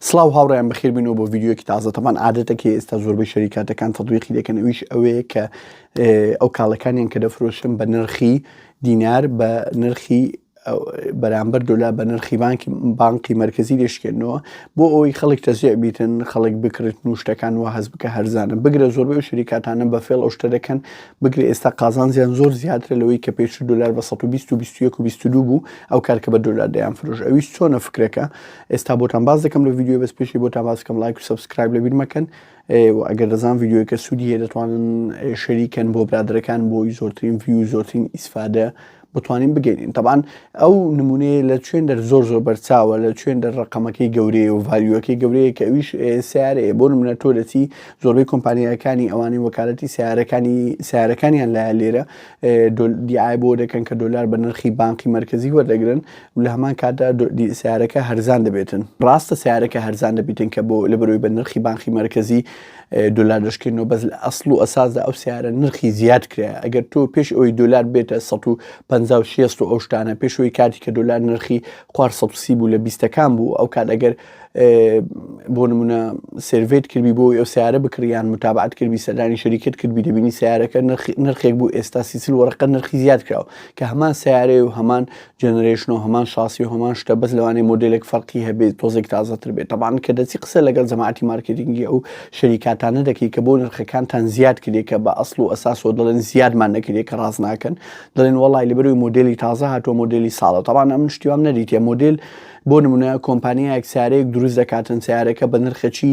سڵاو هاوڕێیان بەخێربینەوە بۆ ڤیددیوەکی تازە تەمان عادەتەکە ئێستا زۆربەی شەریکاتەکان تەدویقی دەکەن ئەویش ئەوەیە کە ئەو کاڵەکانیان کە دەفرۆشن بە نرخی دینار بە نرخی بەرامبەر دۆلا بە نرخی بانکی بانکی مرکزی دەشکێنەوە بۆ ئەوەی خەڵک تەزیع بیتن خەڵک بکرێت نوشتەکان و هەز بکە هەرزانە بگرە زۆربەی شریکاتانە بە فێڵ ئەو شتە دەکەن بگرە ئێستا قازان زیان زۆر زیاتر لەوەی کە پێش دلار بە 120 و 21 و 22 بوو ئەو کارکە بە دلار دەیان فرۆش ئەویش چۆنە فکرەکە ئێستا بۆتان باس دەکەم لە ڤیددیو بەس پێشی بۆتان باسکەم لایک و سبسکرایب لە بیرمەکەن ئەگەر دەزان ڤیددیوەکە سوودی هەیە دەتوانن شەریکەن بۆ برادەکان بۆی زۆرترین ڤی و زۆرترین ئیسفادە بتوانین بگەین تەبان ئەو نمونەیە لە چێن دەر زۆر زۆر بەرچاوە لە چێن دەر ڕقەمەکەی گەورەیە و ڤالیوەکەی گەورەیە کە ئەویش سیارەیە بۆ منە تۆ دەچی زۆربەی کۆمپانیەکانی ئەوانی وەکالەتی سیارەکانی سیارەکانیان لایە لێرە دیای بۆ دەکەن کە دلار بە نرخی بانقی مرکزی وەردەگرن و لە هەمان کاتدا سیارەکە هەرزان دەبێتن. ڕاستە سیارەکە هەرزان دەبیتن کە بۆ لە بەرۆی بە نرخی بانخی مەرکەزی دۆلار دەشکێنەوە بەس لە ئەسڵ و ئەساسدا ئەو سیارە نرخی زیاد کرایە ئەگەر تۆ پێش ئەوی دۆلار بێتە 150 و ئەوشتانە پێشەوەی کاتی کە دۆلار نرخی خوار 130 بوو لە بیستەکان بوو ئەو کات ئەگەر بۆ نمونە سروێت کردبی بۆ ئەو سیارە بکڕیان متابعات کردبی سەردانی شەریکت کردبی دەبینی سیارەکە نرخێک بوو ئێستا سیسل وەرەقە نرخی زیاد کراوە کە هەمان سیارەیە و هەمان جەنەرەیشن و هەمان شاسی و هەمان شتە بەس لەوانەیە مۆدێلێک فەرقی هەبێت تۆزێک تازەتر بێت تەبان کە دەچی قسە لەگەڵ جەماعەتی مارکێتینگی ئەو شەریکاتانە دەکەی کە بۆ نرخەکانتان زیاد کرێ کە بە ئەسڵ و ئەساسەوە دەڵێن زیادمان نەکرێ کە ڕاست ناکەن دەڵێن وەڵی لەبەروی مۆدلی تازە هاتووە مۆدلی ساڵە تەبان ئەمن شتیوام نەریتە مۆدل بۆ نمونە کۆمپانیایەک سارەیەک دروست دەکاتن سیارەکە بە نرخەچی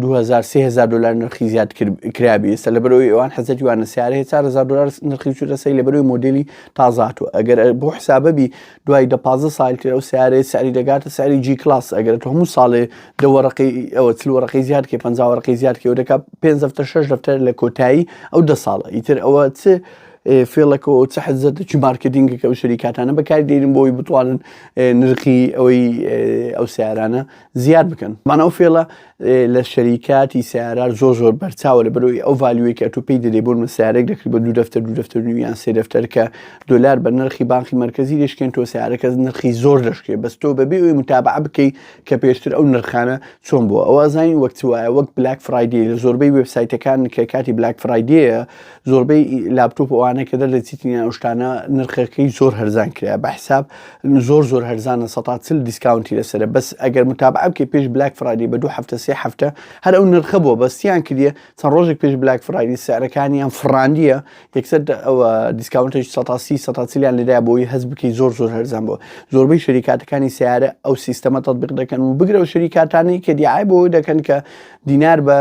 دوو هەزار سێ هەزار دلار نرخی زیاد کرابی ئێستا لە بەرەوەی ئەوان حەزەتی وانە سیارەیە چار هزار دلار نرخی چوتە سەی لە بەرەوەی مۆدلی تازات و ئەگەر بۆ حسابەبی دوای دە پازە ساڵ تر ئەو سیارەیە ساری دەگاتە ساری جی کلاس ئەگەر تۆ هەموو ساڵێ دەوەڕقی ئەوە چل وەڕقی زیاد کە پەنجاوەڕقی زیاد کە و دەکات پێ دەفتە شش دەفتە لە کۆتایی ئەو دە ساڵە ئیتر ئەوە چ فێڵەکە و چ حەزت چی مارکتینگەکە و شەریکاتانە بەکاری دێنن بۆی بتوانن نرخی ئەوەی ئەو سیارانە زیاد بکەن بان ئەو فێڵە لە شەریکاتی سیارار زۆر زۆر بەرچاوە لە بەرەوەی ئەو ڤالیوەی کە تو پێی دەدەی بۆن مە سیارێک دەکری بە دوو دەفتەر دوو دەفتەر نویان سێ دەفتەر کە دلار بە نرخی بانقی مرکزی دەشکێن تۆ سیارەکە نرخی زۆر دەشکێ بەس تۆ بەبێ ئەوی متابع بکەی کە پێشتر ئەو نرخانە چۆن بووە ئەوە زانین وەک وایە وەک بلاک فرایدی لە زۆربەی وبسایتەکان کە کاتی بلاک فرایدەیە زۆربەی لاپتۆپ ئەوانە کە دەردەچیتنیان ئەو شتانە نرخەکەی زۆر هەرزان کرا بە حساب زۆر زۆر هەرزانە سە چل دیسکاونتی لەسرە بەس ئەگەر متابعە بکە پێش بلاک فرادی بە دوو هەفتە سێ هەفتە هەر ئەو نرخە بووە بەستیان کردە چەند ڕۆژێک پێش بلاک فرادی سعرەکانیان فڕاندیە یەکسەر ئەوە دیسکاونتی سەسی سە چلیان لەدا بۆی هەز بکەی زۆر زۆر هەرزان بووە زۆربەی شەریکاتەکانی سیارە ئەو سیستەمە تطبیق دەکەن و بگرە و شەریکاتانی کە دیعای بۆ دەکەن کە دینار بە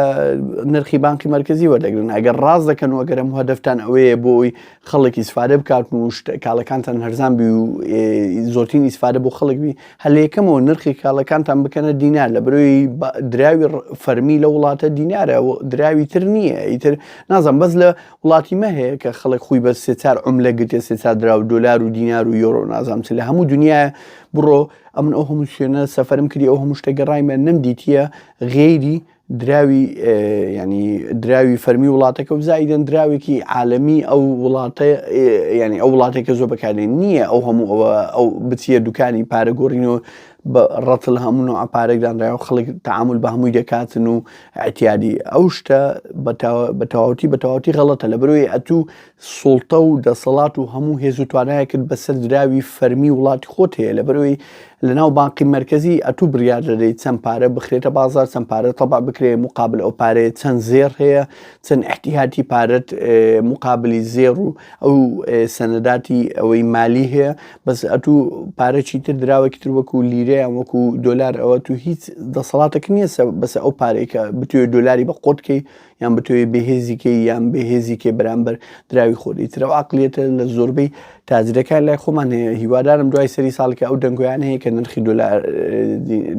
نرخی بانقی مەرکزی وەردەگرن ئەگەر ڕاز دەکەن و گەرم هەدەفتان ئەوەیە بۆی خەڵک ئیسفادە بکات و کاڵەکانتان هەرزان بی و زۆرترین ئیسفادە بۆ خەڵک بی هەلێکەمەوە نرخی کاڵەکانتان بکەنە دینار لە برۆی دراوی فەرمی لە وڵاتە دینارە دراوی تر نییە ئیتر نازم بەس لە وڵاتی مەهەیە کە خەڵک خۆی بە سێچار ئەم لە گرتێ سێچار دراو دلار و دینار و یۆرۆ نازم چ لە هەموو دنیا بڕۆ ئەمن ئەو هەموو شوێنە سەفرم کردی ئەو هەموو شتە گەڕایمە نەم دیتە غەیری دراوی ینی دراوی فەرمی وڵاتەکە و زایدن دراوێکی عالەمی ئەو وڵاتە ینی ئەو وڵاتێکە زۆر بەکارێن نییە ئەو هەموو ئەوە ئەو بچیە دوکانی پارەگۆڕین و بە ڕەتل هەمون و ئەپارێکدانراە و خەڵک تعامل بە هەمووی دەکاتن و ئەتیادی ئەو شتە بە تەواوەتی بە تەواوەتی غەڵەتە لە بروی ئەتوو سوڵتە و دەسەڵات و هەموو هێز و توانایەکت بەسەر دراوی فەرمی وڵاتی خۆت هەیە لەبەرەوەی لەناو بانقی مەرکەزی ئەتوو بڕیار دەدەیت چەند پارە بخرێتە بازار چەند پارە تەبع بکرێ موقابل ئەو پارەیە چەند زێڕ هەیە چەند ئیحتیهاتی پارەت موقابلی زێڕ و ئەو سەنەداتی ئەوەی مالی هەیە بەس ئەتوو پارەکی تر دراوەکی تر وەکو لیرەیان وەکو دۆلار ئەوە تو هیچ دەسەڵاتەکە نییە بەسە ئەو پارەیە بتوێت دۆلاری بە قۆتکەی یان بتەوێ بێ هێزی کەی یان بێ هێزی کەی بەرامبەر دراوی خۆت ئیتر ئەو عەقڵیەتە لە زۆربەی تاجرەکان لای خۆمان هەیە هیوادارم دوای سەری ساڵی کە ئەو دەنگۆیان هەیە کە نرخی دۆلار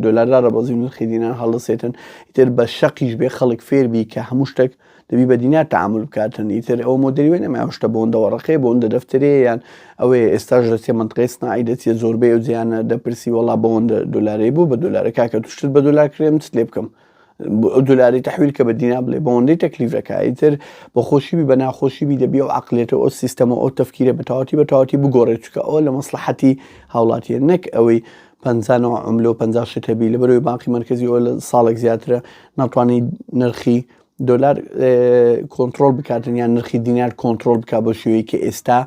دۆلاردا ڕەبەزی و نرخی دینار هەڵدەسێتن ئیتر بە شەقیش بێ خەڵک فێربی کە هەموو شتێک دەبی بە دینار تعامل بکاتن ئیتر ئەو مۆدەری وێ نەما شتە بۆندەوە ڕقێ بۆندە دەفتەرێ یان ئەوەی ئێستاش دەچێ منتقی سناعی دەچێت زۆربەی ئەو جیانە دەپرسی وەڵا بەوەندە دۆلارەی بوو بە دۆلارەکە کە توشتت بە دۆلار کرێم چ لێ بکەم دولاری تحویل کە بە دینا بڵێ بەوەندەی تەکلیف دەکا ئیتر بە خۆشی بی بە ناخۆشی بی دەبی ئەو عقلێتە ئەو سیستەمە ئەو تەفکیرە بە تەواتی بە تەواتی بگۆڕێ چکە ئەوە لە مەسلحەتی هاوڵاتیە نەک ئەوەی پەنجانەوە عملە و پەنجا شتەبی لە بەرەوەی بانقی مرکزی ئەو لە ساڵێک زیاترە ناتوانانی نرخی دۆلار کۆنتترۆل بکاتن یان نرخی دینار کۆنتترۆل بک بە شوەیە کە ئێستا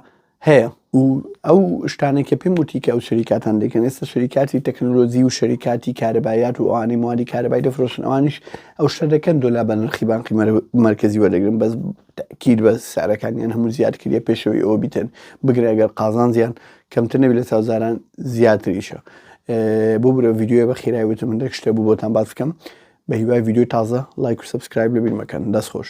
هەیە و ئەو شتانە کە پێم وتی کە ئەو شریکاتان دەکەن ئێستا شریکاتی تەکنۆلۆژی و شریکاتی کارەبایات و ئەوانی موادی کارەبای دەفرۆشن ئەوانیش ئەو شتە دەکەن دۆلا بە نرخی بانقی مرکزی وەردەگرن بەس تاکیر بە سعرەکانیان هەموو زیاد کردە پێشەوەی ئەوە بیتن بگرە ئەگەر قازان زیان کەمتر نەبی لە ساوزاران زیاتریشە بۆ برە ڤیددیوە بە خیرای وتە من دەک شتە بوو بۆتان باز بکەم بە هیوای ڤیددیو تازە لایک و سبسکرایب لە بیرمەکەن دەست خۆش